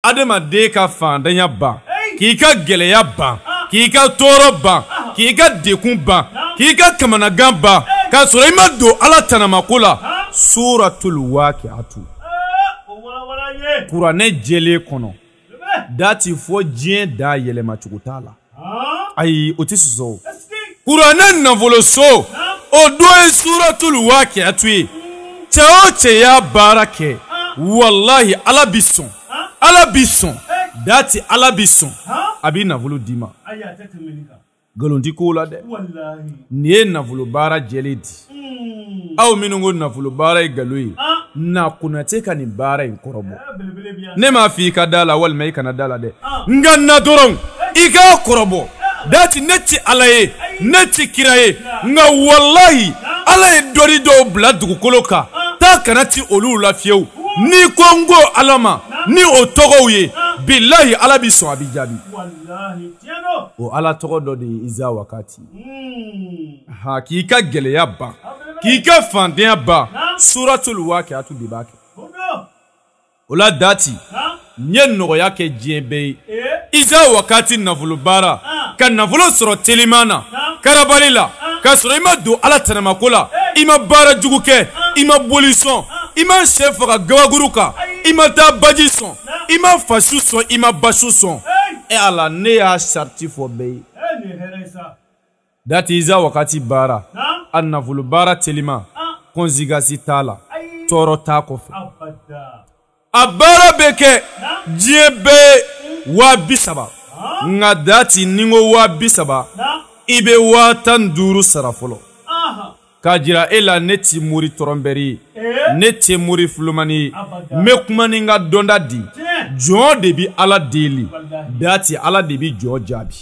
adamaden ka fandanya ban k'i ka gɛlɛya ban k'i ka tɔɔrɔ ban k'i ka dekun ban k'i ka kamanagan ban k'a sɔrɔ i ma don ala tanamako la suratul wakiatu kuranɛ jɛlen kɔnɔ dati fɔ diɲɛ da yɛlɛmacogo t'a la ayi o tɛ sɔsɔ o kuranɛ nafoloso o dɔ ye suratul wakiatu ye cɛ o cɛ y'a baara kɛ walahi ala b'i sɔn ala b'i sɔn dati ala b'i sɔn a bi nafolo d'i ma nkalon ti ko la dɛ nin ye nafolo baara jɛlen di aw minnu ko nafolo baara ye nkalon ye na konatɛ ka nin baara in kɔrɔbɔ ne m'a fɔ i ka da la walima i kana da la dɛ nka na dɔrɔn i k'a kɔrɔbɔ dati ne tɛ ala ye ne tɛ kira ye nka walayi ala ye dɔnni dɔw bila dugukolo kan taa ka na ti olu la fiyewu n'i ko n ko ala ma ni o tɔgɔw ye bilayi ala b'i sɔn a b'i jaabi o ala tɔgɔ dɔ de ye iza wakati ha k'i ka gɛlɛya ban k'i ka fantanya ban suratul waqiatu de b'a kɛ o la dati n ye nɔgɔya kɛ diɲɛ bɛɛ ye iza wakati nafolo baara ka nafolo sɔrɔ teliman na karabali la k'a sɔrɔ i ma don ala tanamako la i ma baara jugu kɛ i ma boli sɔn i ma sɛ faga gabakuru kan i ma taa baji sɔn i ma fasu sɔn i ma basu sɔn e ala ne y'a sariti fɔ bɛɛ ye dati iza wakati baara a nafolo baara teliman kɔnsigasi t'a la tɔɔrɔ t'a kɔfɛ a baara bɛ kɛ diɲɛ bɛɛ waa bi saba nka dati ni n ko waa bi saba i bɛ waa tan ni duuru sara fɔlɔ k'a jira e la ne ti mori tɔrɔnbɛri ye eh? ne ti mori fulomani ye n bɛ kuma ni n ka dɔnda di jɔn de bɛ ala deli dati ala de bɛ jɔn jaabi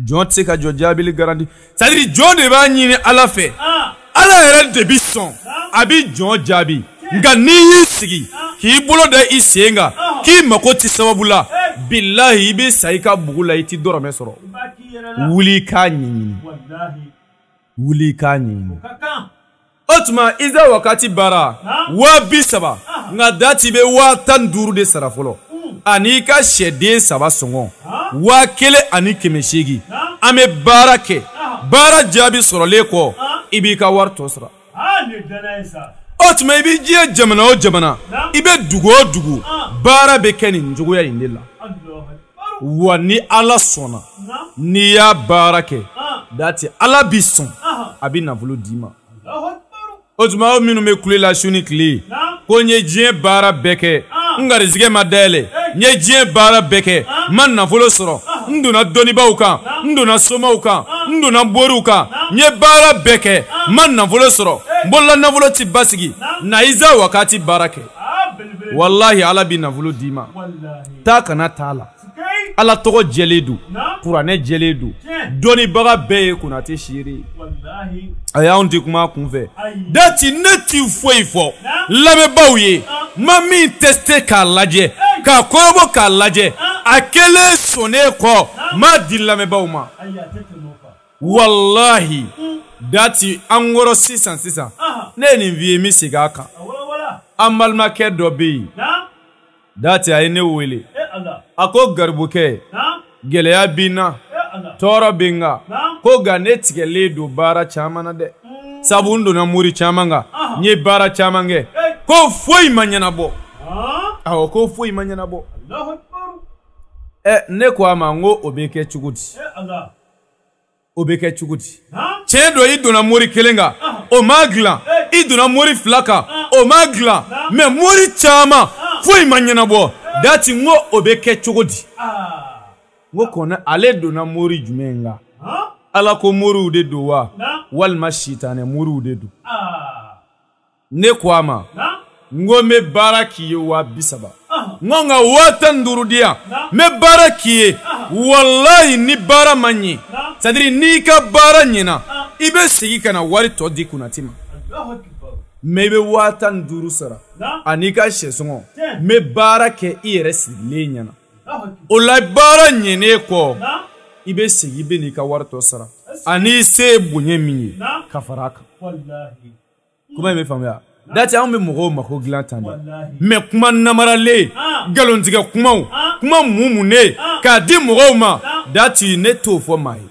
jɔn tɛ se ka jɔn jaabili garanti c'est à dire jɔn de b'a ɲini ala fɛ ah. ala yɛrɛ de bɛ sɔn ah. a bɛ jɔn jaabi nka n'i y'i sigi ah. k'i bolo da i sen kan k'i mako tɛ sababu la bilahi i bɛ sa i ka bugu la i tɛ dɔrɔmɛ sɔrɔ wuli k'a ɲɛɲini wuli k'a ɲɛɲini o tuma iza wakati baara waa bi saba nka dati bɛ waa tan ni duuru de sara fɔlɔ an'i ka sɛden saba sɔngɔ waa kelen ani kɛmɛ seegin an bɛ baara kɛ baara jaabi sɔrɔlen kɔ i b'i ka wari tɔ sara o tuma i bɛ diɲɛ jamana o jamana i bɛ dugu o dugu baara bɛ kɛ nin cogoya in de la wa ni ala sɔnna n'i y'a baara kɛ dati ala b'i sɔn a bɛ nafolo d'i ma o tuma aw minnu bɛ kule la su ni tile ye ko n ye diɲɛ baara bɛɛ kɛ n garizigɛ ma dayɛlɛ n ye diɲɛ baara bɛɛ kɛ n ma nafolo sɔrɔ n donna dɔnnibaw kan n donna somaw kan n donna boriw kan n ye baara bɛɛ kɛ n ma nafolo sɔrɔ n bolola nafolo ti basigi na iza wakati baara kɛ walahi ala bɛ nafolo d'i ma taa ka na t'a la ala tɔgɔ jɛlen don kuranɛ jɛlen don dɔnnibaga bɛɛ ye konatɛ seere ye ayi anw ti kuma kunfɛ dati ne ti foyi fɔ lamɛnbaaw ye n ma min tɛsite k'a lajɛ k'a kɔrɔbɔ k'a lajɛ a kɛlen sɔnnen kɔ m'a di lamɛnbaaw ma walahi dati an kɔrɔ sisan sisan ne ye nin f'i ye n bɛ segin a kan an balimakɛ dɔ bɛ yen. Dati a ye ne wele a ko garibukɛ gɛlɛya bɛ n na tɔɔrɔ bɛ n kan ko nka ne tigɛlen don baara caman na dɛ mm. sabu n donna mori caman kan n ye baara caman kɛ ko foyi ma ɲɛnabɔ awɔ ko foyi ma ɲɛnabɔ ɛ ne ko a ma n ko o bɛ kɛ cogo di o bɛ kɛ cogo di tiɲɛ don i donna mori kelen kan o ma dilan i donna mori fila kan o ma dilan mɛ mori caman foyi ma ɲɛnabɔ dati n ko o bɛ kɛ cogo di n ko kɔnɔ ale donna mori jumɛn kan ala ko moriw de don wa walima sitanɛ moriw de don ne ko a ma n ko n bɛ baara k'i ye waa bi saba n ko nka waa tan ni duuru di yan n bɛ baara k'i ye walayi ni baara ma ɲɛ sadiri n'i ka baara ɲɛna i bɛ segin ka na wari tɔ di konatɛ ma mɛ i bɛ waa tan ni duuru sara an'i ka sɛsɔngɔ n bɛ baara kɛ i yɛrɛ sigilen ɲɛ na o la baara ɲɛnen kɔ i bɛ segin i bɛ n'i ka wari tɔ sara an'i se ye bonya min ye ka fara a kan kuma in bɛ faamuya dati anw bɛ mɔgɔw mako dilan tan de mɛ kuma namaralen nkalontigɛ kumaw kuma mumunnen k'a di mɔgɔw ma dati ne t'o fɔ maa ye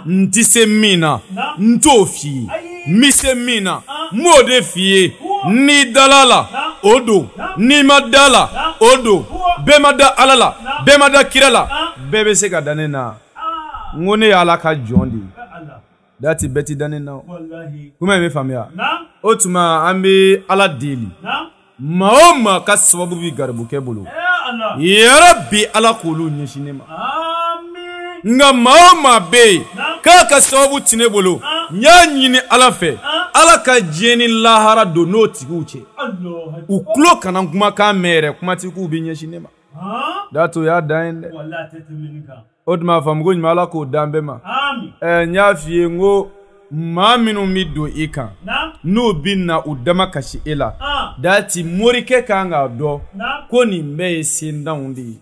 n tɛ se min na n t'o f'i ye n bɛ se min na n b'o de f'i ye n'i dal'a la o don n'i ma d'a la o don bɛɛ ma da ala la bɛɛ ma da kira la bɛɛ bɛ se ka da ne na n ko ne ye ala ka jɔn de ye dati bɛɛ ti da ne na kuma in bɛ faamuya o tuma an bɛ ala deli maa o maa ka sababu bɛ garibukɛ bolo yarabi ala k'olu ɲɛsin ne ma nka maa o maa bɛ yen k'a ka sababu ti ne bolo n y'a ɲini ala fɛ ala ka diɲɛ ni lahara don n n'o tigiw cɛ u tulo kana kumakan mɛn yɛrɛ kuma ti k'u bɛ ɲɛsin ne ma dati o y'a dan ye dɛ o tuma faamuko ɲuman ala k'o d'an bɛɛ ma ɛɛ n y'a f'i ye n ko maa minnu bɛ don i kan n'u bɛ na u dama kasi e la dati morikɛ kan k'a dɔn ko nin bɛɛ ye sendanw de ye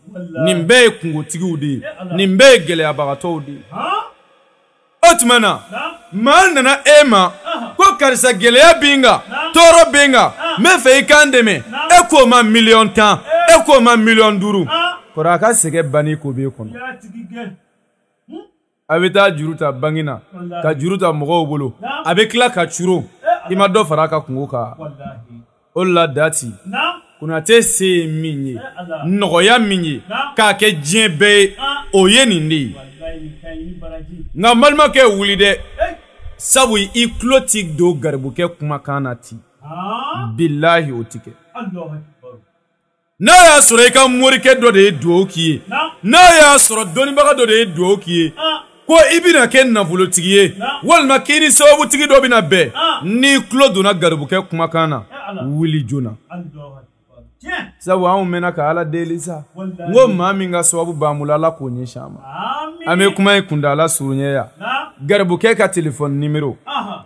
nin bɛɛ ye kungotigiw de ye nin bɛɛ ye gɛlɛyabagatɔw de ye o tuma na maa nana e ma ko karisa gɛlɛya bɛ n kan tɔɔrɔ bɛ n kan n b'a fɛ i ka n dɛmɛ e k'o ma miliyɔn tan e k'o ma miliyɔn duuru kɔrɔ a ka sɛgɛn banni ko b'e kɔnɔ a bɛ taa juru ta banki na ka juru ta mɔgɔw bolo a bɛ tila ka coron i ma dɔ fara a ka kungo kan o de la dati konate se ye min ye nɔgɔya min ye k'a kɛ diɲɛ bɛɛ ye o ye nin de ye nka n balimakɛ wuli dɛ sabu i tulo ti don garibukɛ kumakan na ten bilahi o ti kɛ n'a y'a sɔrɔ i ka morikɛ dɔ de ye dugawu k'i ye n'a y'a sɔrɔ dɔnnibaga dɔ de ye dugawu k'i ye ko i bɛna kɛ nafolotigi ye walima k'i ni sababutigi dɔ bɛna bɛn n'i tulo donna garibukɛ kumakan na wuli joona sabu anw mɛnna ka ala deli sa n ko maa min ka sababu b'an bolo ala k'o ɲɛsin an ma an bɛ kuma in kuntaala surunya yan garibukɛ ka telefɔni nimero